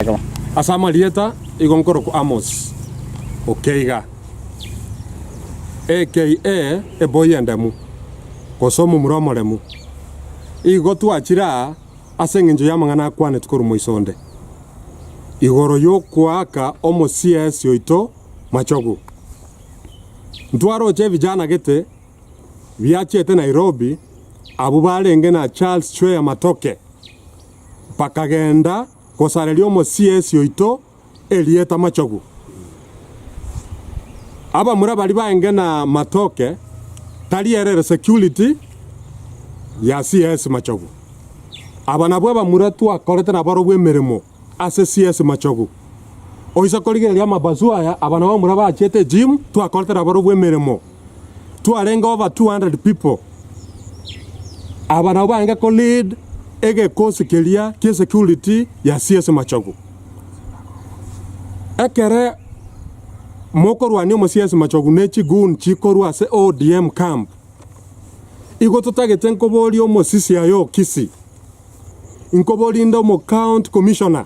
Ekaba ase amarieta igo nkorokwa Amos, okeiga, aka, eboi endemu, gose omomura omoremu. Igo twachire aa ase engencho y'amang'ana akwanetwe korwa moiso onde, igoro y'okoaka omosiesi oito machogu. Ntwaroche ebijana gete biachete Nairobi, abwo barenge na Charles Chwea Matoke, bakagenda, gosareria omosiesi oito erieta Machogu. Abamura baria baenge na Matoke tari ere ere security ya CS Machogu. Aba nabwo abamura twakorete nabarobwo emeremo ase CS Machogu. Oise korigereria amabasu aya, aba nabamura bachete gym twakorete nabarobwo emeremo. twarenge over 200 people. Aba nabo baange ko lead egekosi keria gie security ya CS Machogu. Ekere mokorwania omo CS Machogu ne chi goon chikorwa ase ODM camp. Igo totagete nkoboria omosisia yo Kisii. Inkoboria inde omo county commissioner.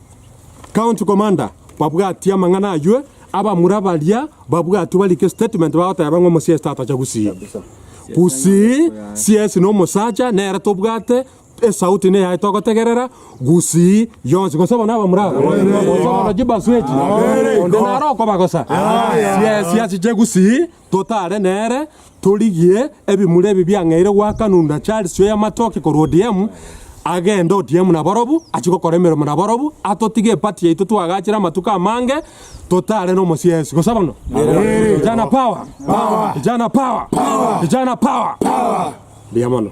County commander babwatie amang'ana ayio, abamura baria babwatwe barike statement bagoteba ng'a omosiesi tatacha gusii gusii siesi nomosacha nere tobwate esauti niyaye togotegerera gusii yonsi gose bono abamura aba gose bono chibasu echi onde naro okobagosa siesi achiche gusii Totare nere, torigie ebimura ebi biang'eire gwakanunda Charles oyo amatoke korwa ODM, agende ODM nabarobwo, achie gokora emeremo nabarobwo, atotige eparty yaito twagachere amatuko amange, totare nomosie Yesu. Gose bono? Vijana power! Vijana power! Vijana power! Mbuya mono.